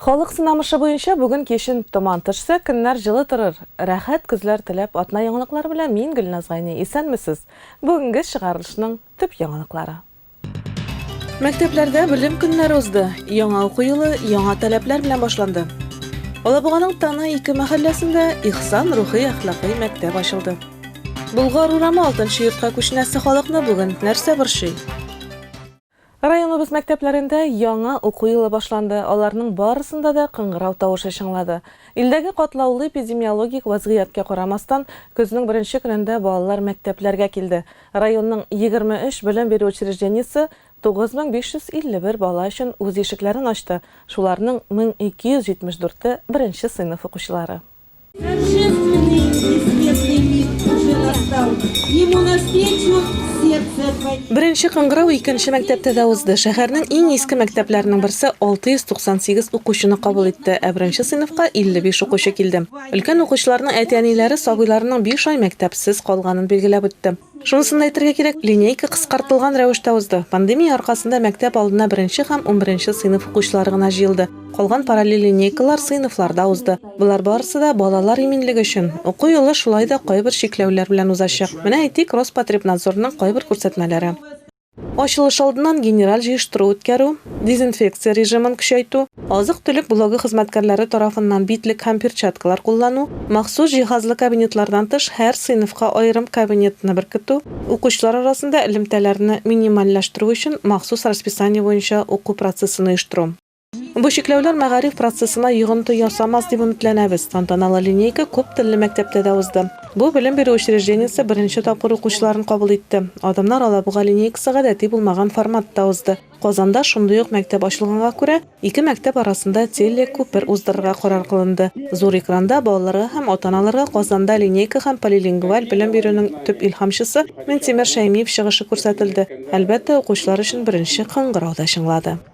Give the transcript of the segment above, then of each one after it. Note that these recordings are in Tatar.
Халык сынамышы буенча бүген кичен томан төшсә, көннәр җылы торыр. Рәхәт көзләр теләп, атна яңалыклары белән мин Гөлназ Гайни. Исәнмесез! Бүгенге чыгарылышның төп яңалыклары. Мәктәпләрдә белем көннәре узды. Яңа уку елы яңа таләпләр белән башланды. Алабуганың Тана ике мәхәлләсендә Ихсан рухи-әхлакый мәктәп ачылды. Болгар урамы алтынчы йортка күченәсе халыкны бүген нәрсә борчый? Районыбыз мәктәпләрендә яңа уку елы башланды, аларның барысында да кыңгырау тавышы чыңлады. Илдәге катлаулы эпидемиологик вазгыятькә карамастан, көзнең беренче көнендә балалар мәктәпләргә килде. Районның егерме өч белем бирү учреждениесе 9551 бала өчен үз ишекләрен ачты, шуларның 1274-е, беренче сыйныф укучылары. Беренче кыңгырау икенче мәктәптә дә узды. Шәһәрнең иң иске мәктәпләренең берсе 698 укучыны кабул итте, ә беренче сыйныфка 55 укучы килде. Өлкән укучыларның әти-әниләре сабыйларының 5 ай мәктәпсез калганын билгеләп үтте. Шунысын да әйтергә кирәк, линейка кыскартылган рәвештә узды. Пандемия аркасында мәктәп алдына беренче һәм унберенче сыйныф укучылары гына җыелды. Калган параллель линейкалар сыйныфларда узды. Болар барысы да, балалар иминлеге өчен. Уку елы шулай да кайбер чикләүләр белән узачак. Менә әйтик, Роспотребнадзорның кайбер күрсәтмәләре. Ачылыш алдыннан генераль җыештыру үткәрү, дезинфекция режимын көчәйтү, азык-төлек блогы хезмәткәрләре тарафыннан битлек һәм перчаткалар куллану, махсус җиһазлы кабинетлардан тыш һәр сыйныфка аерым кабинетны беркетү, укучылар арасында элемтәләрне минимальләштерү өчен махсус расписание буенча уку процессын оештыру. Бу чикләүләр мәгариф процессына йогынты ясамас дип өметләнәбез. Тантаналы линейка күп телле мәктәптә дә узды. Бу белем бирү учреждениесе беренче тапкыр укучыларын кабул итте. Адымнар Алабуга линейкасы гадәти булмаган форматта узды. Казанда шундый ук мәктәп ачылганга күрә, ике мәктәп арасында телекүпер уздырырга карар кылынды. Зур экранда балаларга һәм ата-аналарга Казанда линейка һәм полилингваль белем бирүнең төп илһамчысы Минтимер Шәймиев чыгышы күрсәтелде, әлбәттә, укучылар өчен беренче кыңгырау да чыңлады.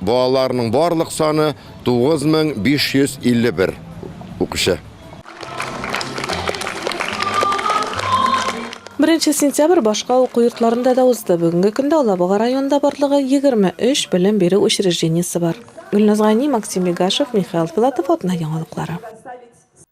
Балаларның барлык саны 9551 укучы. Беренче сентябрь башка уку йортларында да узды. Бүгенге көндә Алабуга районында барлыгы 23 белем бирү учреждениесе бар. Гөлназ Гайни, Максим Бегашев, Михаил Филатов, Атна яңалыклары.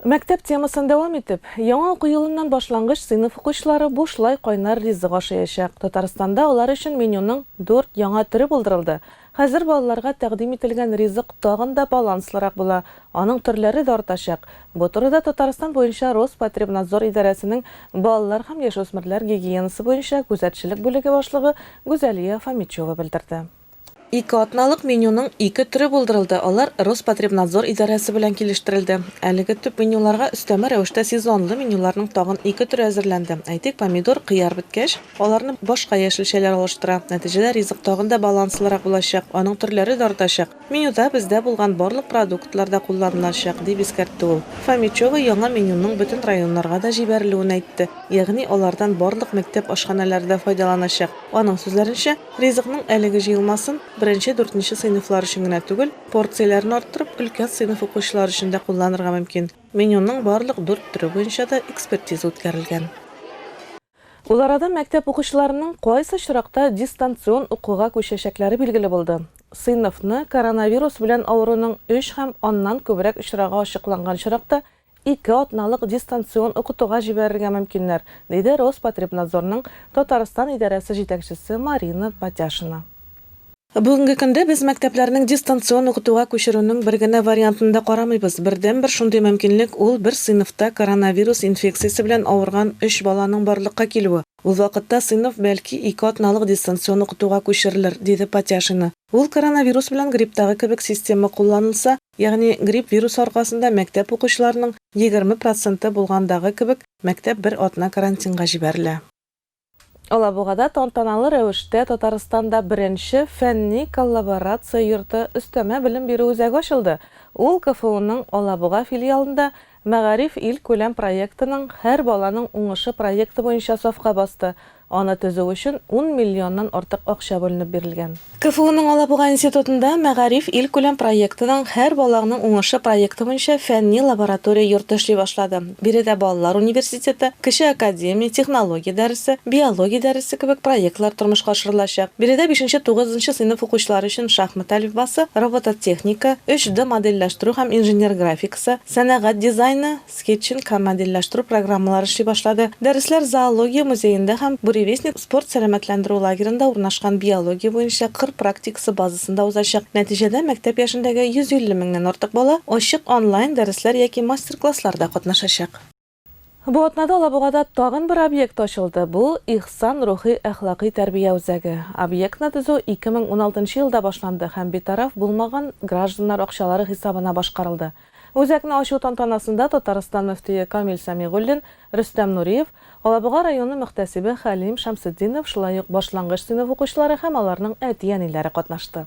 Мәктәп темасын дәвам итеп, яңа уку елыннан башлангыч сыйныф укучылары бушлай кайнар ризык ашыячак. Татарстанда алар өчен менюның дүрт яңа төре булдырылды. Хәзер балаларга тәкъдим ителгән ризык тагын да баланслырак була, аның төрләре дә артачак. Бу турыда Татарстан буенча Роспотребнадзор идарәсенең балалар һәм яшүсмерләр гигиенасы буенча күзәтчелек бүлеге башлыгы Гүзәлия Фомичева белдерде. Ике атналык менюның ике төре булдырылды, алар Роспотребнадзор идарәсе белән килештерелде. Әлеге төп менюларга өстәмә рәвештә сезонлы менюларның тагын ике төре әзерләнде. Әйтик, помидор, кыяр беткәч, аларны башка яшелчәләр алыштыра. Нәтиҗәдә ризык тагын да баланслырак булачак, аның төрләре дә артачак. Менюда бездә булган барлык продуктлар да кулланылачак, дип искәртте ул. Фомичева яңа менюның бөтен районнарга да җибәрелүен әйтте, ягъни алардан барлык мәктәп ашханәләре дә файдаланачак. Аның сүзләренчә, Ризыкның әлеге җыелмасын беренче-дүртенче сыйныфлар өчен генә түгел, порцияләрен арттырып, өлкән сыйныф укучылары өчен дә кулланырга мөмкин. Менюның барлык дүрт төре буенча да экспертиза үткәрелгән. Ул арада мәктәп укучыларының кайсы очракта дистанцион укуга күчәчәкләре билгеле булды. Сыйныфны коронавирус белән авыруның өч һәм аннан күбрәк очрагы ачыкланган очракта ике атналык дистанцион укытуга җибәрергә мөмкиннәр, диде Роспотребнадзорның Татарстан идарәсе җитәкчесе Марина Патяшина. Бүгенге көндә без мәктәпләрнең дистанцион укытуга күчерүнең бер генә вариантын да карамыйбыз. Бердәнбер шундый мөмкинлек, ул бер сыйныфта коронавирус инфекциясе белән авырган өч баланың барлыкка килүе. Ул вакытта сыйныф, бәлки, ике атналык дистанцион укытуга күчерелер, диде Патяшина. Ул коронавирус белән грипптагы кебек система кулланылса, Ягъни, грипп вирусы аркасында мәктәп укучыларының егерме проценты булгандагы кебек, мәктәп бер атна карантинга җибәрелә. Алабугада тантаналы рәвештә Татарстанда беренче фәнни коллаборация йорты, өстәмә белем бирү үзәге ачылды. Ул КФУның Алабуга филиалында Мәгариф илкүләм проектының Һәр баланың уңышы проекты буенча сафка басты, аны төзү өчен ун миллионнан артык акча бүленеп бирелгән. КФУның Алабуга институтында Мәгариф илкүләм проектының Һәр балагның уңышы проекты буенча фәнни лаборатория йорты эшли башлады. Биредә балалар университеты, кече академия, технология дәресе, биология дәресе кебек проектлар тормышка ашырылачак. Биредә бишенче, тугызынчы сыйныф укучылары өчен шахмат әлифбасы, робототехника, 3D модельләштерү һәм инженер-графикасы, Сэ, сәнәгать дизайны, скетчинг һәм модельләштерү программалары эшли башлады. Дәресләр зоология музеенда һәм Буревестник спорт-сәламәтләндерү лагеренда урнашкан биология буенча кыр практикасы базасында узачак. Нәтиҗәдә мәктәп яшендәге 150 меңнән артык бала ачык онлайн-дәресләр яки мастер-классларда катнашачак. Бу атнада Алабугада тагын бер объект ачылды, бу, Ихсан рухи-әхлакый тәрбия үзәге. Объектны төзү 2016 елда башланды һәм битараф булмаган гражданнар акчалары хисабына башкарылды. Үзәкне ачу тантанасында Татарстан мөфтие Камил Сәмигуллин, Рөстәм Нуриев, Алабуга районы мөхтәсибе Хәлим Шәмсетдинов, шулай ук башлангыч сыйныф укучылары һәм аларның әти-әниләре катнашты.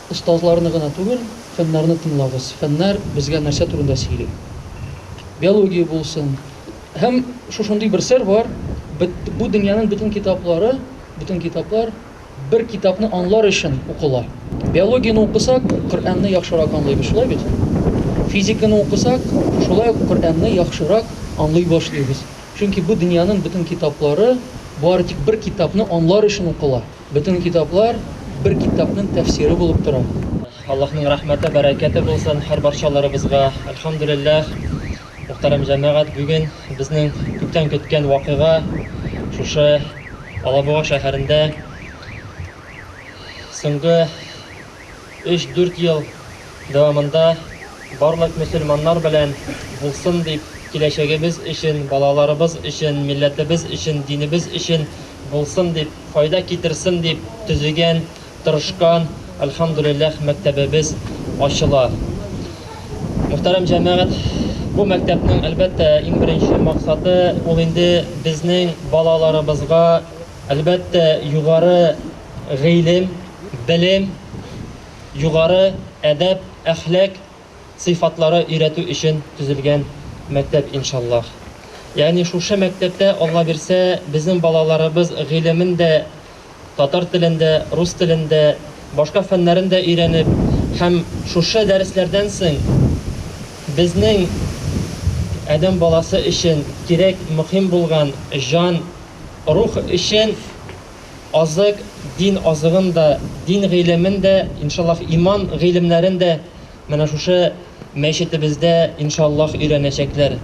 Остазларны гына түгел, фәннәрне тыңлагыз. Фәннәр безгә нәрсә турында сөйли? Биология булсын. Һәм шушындый бер сер бар, бу дөньяның бөтен китаплары, бөтен китаплар бер китапны анлар өчен укыла. Биологияне укысак, Коръәнне яхшырак анлыйбыз, шулай бит? Физиканы укысак, шулай ук Коръәнне яхшырак анлый башлыйбыз. Чөнки бу дөньяның бөтен китаплары бары тик бер китапны анлар өчен укыла. Бөтен китаплар бер китапның тәфсире булып тора. Аллаһның рәхмәте, бәрәкәте булсын һәр барчаларыбызга. Әлхәмдүлилләһ, мөхтәрәм җәмәгать, бүген безнең күптән көткән вакыйга шушы Алабуга шәһәрендә соңгы Өч-дүрт ел дәвамында барлык мөселманнар белән булсын дип, киләчәгебез өчен, балаларыбыз өчен, милләтебез өчен, динебез өчен булсын дип, файда китерсен дип төзегән, тырышкан, әлхәмдүлилләһ, мәктәбебез ачыла. Мөхтәрәм җәмәгать, бу мәктәпнең, әлбәттә, иң беренче максаты, ул инде безнең балаларыбызга Әлбәттә, югары гыйлем, белем, югары әдәп, әхлак сыйфатлары өйрәтү өчен төзелгән мәктәп, иншаллаһ. Ягъни шушы мәктәптә, Алла бирсә, безнең балаларыбыз гыйлемен дә татар телен дә, рус телен дә, башка фәннәрен дә өйрәнеп һәм шушы дәресләрдән соң безнең адәм баласы өчен кирәк, мөхим булган җан Рух өчен азык, дин азыгын да, дин гыйлемен дә, иншаллаһ, иман гыйлемнәрен дә менә шушы мәчетебездә, иншаллаһ, өйрәнәчәкләр.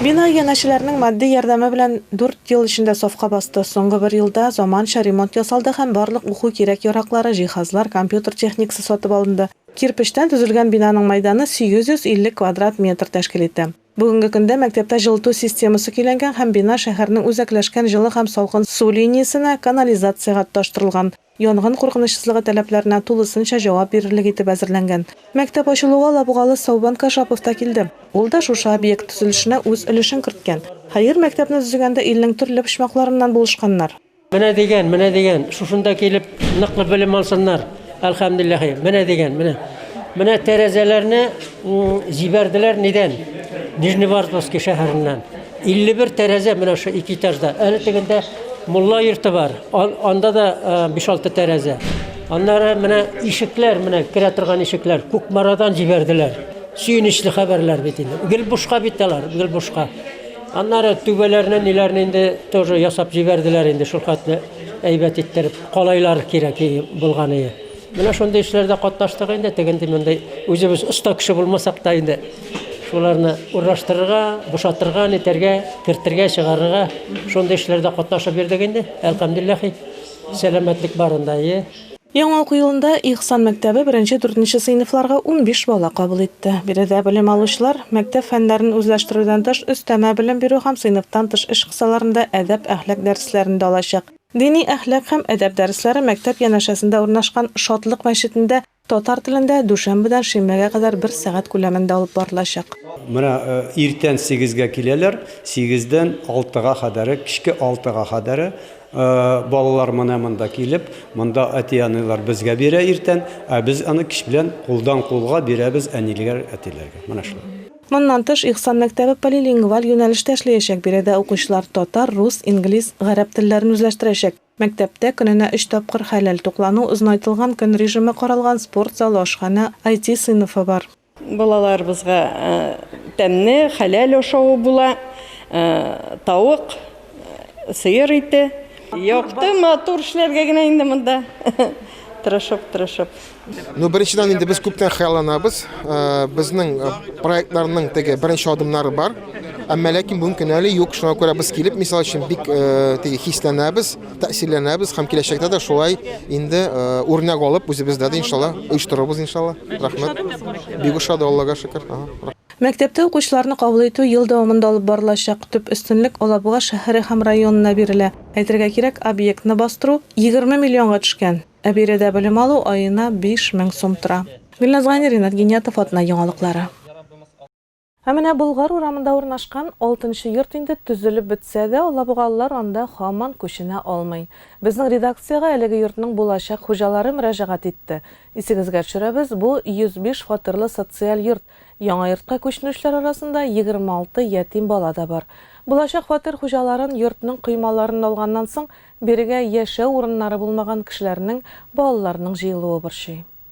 Бина иганәчеләренең матди ярдәме белән дүрт ел эчендә сафка басты. Соңгы бер елда заманча ремонт ясалды һәм барлык уку кирәк-яраклары, җиһазлар, компьютер техникасы сатып алынды. Кирпечтән төзелгән бинаның мәйданы 850 квадрат метр тәшкил итә. Бүгенге көндә мәктәптә җылыту системасы көйләнгән һәм бина шәһәрнең үзәкләшкән җылы һәм салкын су линиясенә, канализациягә тоташтырылган. Янгын куркынычсызлыгы таләпләренә тулысынча җавап бирерлек итеп әзерләнгән. Мәктәп ачылуга лабугалы Саубан Кашапов та килде. Ул да шушы объект төзелешенә үз өлешен керткән. Хәер, мәктәпне төзегәндә илнең төрле почмакларыннан булышканнар. Менә дигән, менә дигән, шушында килеп ныклы белем алсыннар. Әлхәмдулиллаһи. Менә дигән, менә. Менә тәрәзәләрне җибәрделәр нидән? Нижневартовский шәһәреннән. 51 тәрәзә менә шу ике этажда. Әле тегендә мулла йорты бар. Анда да 5-6 э, тәрәзә. Аннары менә ишекләр, менә керә торган ишекләр Кукмарадан җибәрделәр. Сөенечле хәбәрләр бит инде. Гел бушка бит алар, гел бушка. Аннары түбәләренә ниләрне инде тоже ясап җибәрделәр инде шул хәтле әйбәт иттереп. Калайлар кирәк булган иде. Менә шундый эшләрдә катнаштык инде, тегенди мондый үзебез оста кеше булмасак та инде шуларны урнаштырырга, бушатырга, нетәргә, кертергә, чыгарырга шундый эшләрдә катнашып йөрдек инде. Әлхәмдулиллаһи, сәламәтлек барында, әйе. Яңа уку елында Ихсан мәктәбе беренче-дүртенче сыйныфларга унбиш бала кабул итте. Биредә белем алучылар, мәктәп фәннәрен үзләштерүдән тыш, өстәмә белем бирү һәм сыйныфтан тыш эш кысаларында әдәп-әхлак дәресләрен дә алачак. Дини әхлак һәм әдәп дәресләре мәктәп янәшәсендә урнашкан Шатлык мәчетендә татар телендә дүшәмбедән шимбәгә кадәр бер сәгать күләмендә алып барылачак. Менә иртән сигезгә киләләр, сигездән алтыга кадәре, кичке алтыга кадәре. Балалар менә монда килеп, монда әти-әниләр безгә бирә иртән, ә без аны кич белән кулдан-кулга бирәбез әниләр, әтиләргә. Менә шулай. Моннан тыш, Ихсан мәктәбе полилингваль юнәлештә эшләячәк, биредә укучылар татар, рус, инглиз, гарәп телләрен үзләштерәчәк. Мәктәптә көненә өч тапкыр хәләл туклану, озынайтылган көн режимы каралган спорт залы, ашханә, IT сыйныфы бар. Балаларыбызга тәмне, хәләл ашавы була, тавык, сыер ите. Якты, матур эшләргә генә инде монда. Тырышып, тырышып. Ну, беренчедән инде без күптән хыялланабыз. Безнең проектларның теге беренче адымнары бар. Әмма ләкин бүгенге көн әле юк. Шуңа күрә без килеп, мисал өчен, бик теге хисләнәбез. тәэсирләнәбез һәм киләчәктә дә шулай инде үрнәк алып үзебездә дә иншалла оештырырбыз иншалла рәхмәт бик ошады аллага шөкер Мәктәптә укучыларны кабул итү ел дәвамында алып барылачак. Төп өстенлек Алабуга шәһәре һәм районына бирелә. Әйтергә кирәк, объектны бастыру егерме миллионга төшкән, ә биредә белем алу аена биш мең сум тора. Гөлназ Гайни, Ринат Гиниятов атна яңалыклары. Ә менә Болгар урамында урнашкан Алтынчы йорт инде төзелеп бетсә дә, алабугалылар анда һаман күченә алмый. Безнең редакциягә әлеге йортның булачак хуҗалары мөрәҗәгать итте. Исегезгә төшерәбез, бу, 105 фатирлы социаль йорт. Яңа йортка күченүчеләр арасында 26 ятим бала да бар. Булачак фатир хуҗаларын йортның коймаларын алганнан соң, бирегә яшәү урыннары булмаган кешеләрнең балаларының җыелуы борчый.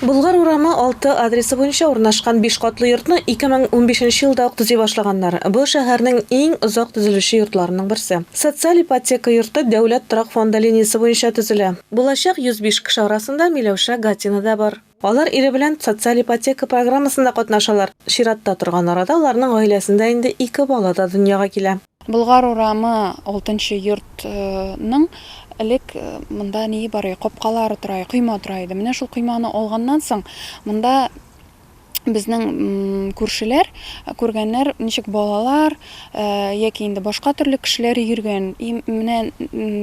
Болгар урамы 6 адресы буенча урнашкан биш катлы йортны 2015 нче елда ук төзи башлаганнар. Бу, шәһәрнең иң озак төзелүче йортларының берсе. Социаль ипотека йорты Дәүләт торак фонды линиясе буенча төзелә. Булачак 105 кеше арасында Миләүшә Гатина да бар. Алар ире белән социаль ипотека программасында катнашалар. Чиратта торган арада аларның гаиләсендә инде ике бала да дөньяга килә. Болгар урамы, Алтынчы йорт, ның элек монда ние бар иде, капкалары тора иде, койма тора иде. Менә шул койманы алганнан соң, монда безнең күршеләр, күргәннәр, ничек балалар яки инде башка төрле кешеләр йөргән. И менә,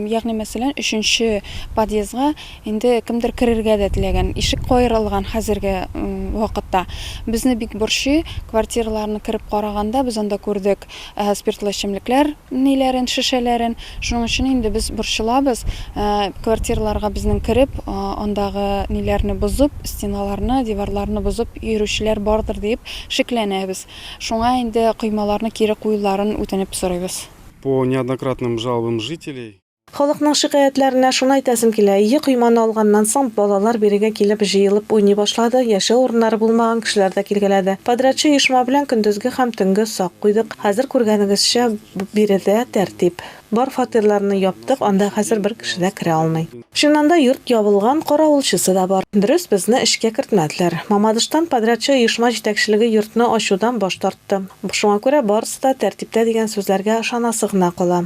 ягъни мәсәлән, өченче подъездга инде кемдер керергә дә теләгән. Ишек каерылган хәзерге вакытта. Безне бик борчый, квартираларны кереп караганда, без анда күрдек. Әһә спиртлы эчемлекләр ниләрен, шешәләрен. Шуның өчен инде без борчылабыз. Квартираларга безнең кереп, андагы ниләрне бозып, стеналарны, диварларны бозып йөрүчеләр бардыр диеп шикләнәбез. Шуңа инде коймаларны кире куюларын үтенеп сорыйбыз. По неоднократным жалобам жителей. Халыкның шикаятьләренә шуны әйтәсем килә, ие койманы алганнан соң, балалар бирегә килеп җыелып уйный башлады, яшәү урыннары булмаган кешеләр дә килгәләде. Подрядчы оешма белән көндезге һәм төнге сак куйдык. Хәзер күргәнегезчә, биредә тәртип. Бар фатирларны яптык, анда хәзер бер кеше дә керә алмый. Чыннан да йорт ябылган, каравылчысы да бар. Дөрес, безне эшкә кертмәделәр. Мамадыштан подрядчы оешма җитәкчелеге йортны ачудан баш тартты. Шуңа күрә барысы да тәртиптә дигән сүзләргә ышанасы гына кала.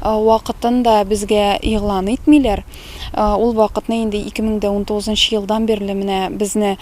Вакытын да безгә игълан итмиләр. Ул вакытны инде 2019 нчы елдан бирле менә безне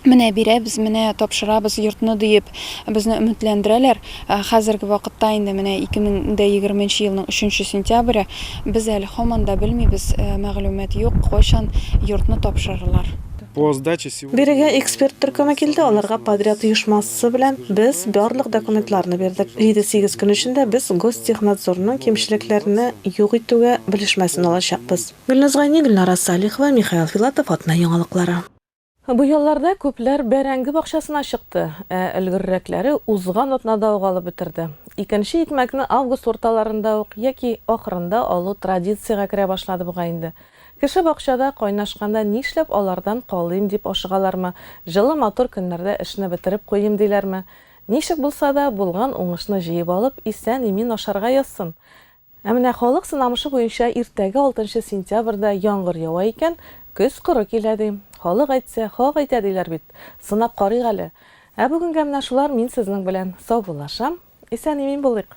менә бирәбез, менә тапшырабыз йортны диеп безне өметләндерәләр. Хәзерге вакытта инде менә 2020 нче елның 3 нче сентябре, без әле һаман да белмибез, мәгълүмат юк, кайчан йортны тапшырырлар. По сдаче Бирегә эксперт төркеме килде, аларга подряд оешмасы белән без барлык документларны бирдек. Җиде-сигез көн эчендә без Гостехнадзорның кимчелекләрне юк итүгә белешмәсен алачакбыз. Гөлназ Гайни, Гөлнара Салихова, Михаил Филатов, Атна яңалыклары. Бу ялларда күпләр бәрәңге бакчасына чыкты, ә өлгеррәкләре узган атнада ук алып бетерде. Икенче икмәкне август урталарында ук яки ахырында алу традициягә керә башлады бугай инде. Кеше бакчада кайнашканда нишләп алардан калыйм дип ашыгалармы, җылы матур көннәрдә эшне бетереп куйыйм диләрме? Ничек булса да, булган уңышны җыеп алып, исән-имин ашарга язсын! Ә менә халык сынамышы буенча иртәгә алтынчы сентябрьдә яңгыр ява икән, көз коры килә ди. Халык әйтсә, хак әйтә диләр бит. Сынап карыйк әле. Ә бүгенгә менә шулар, мин сезнең белән саубуллашам. Исән-имин булыйк!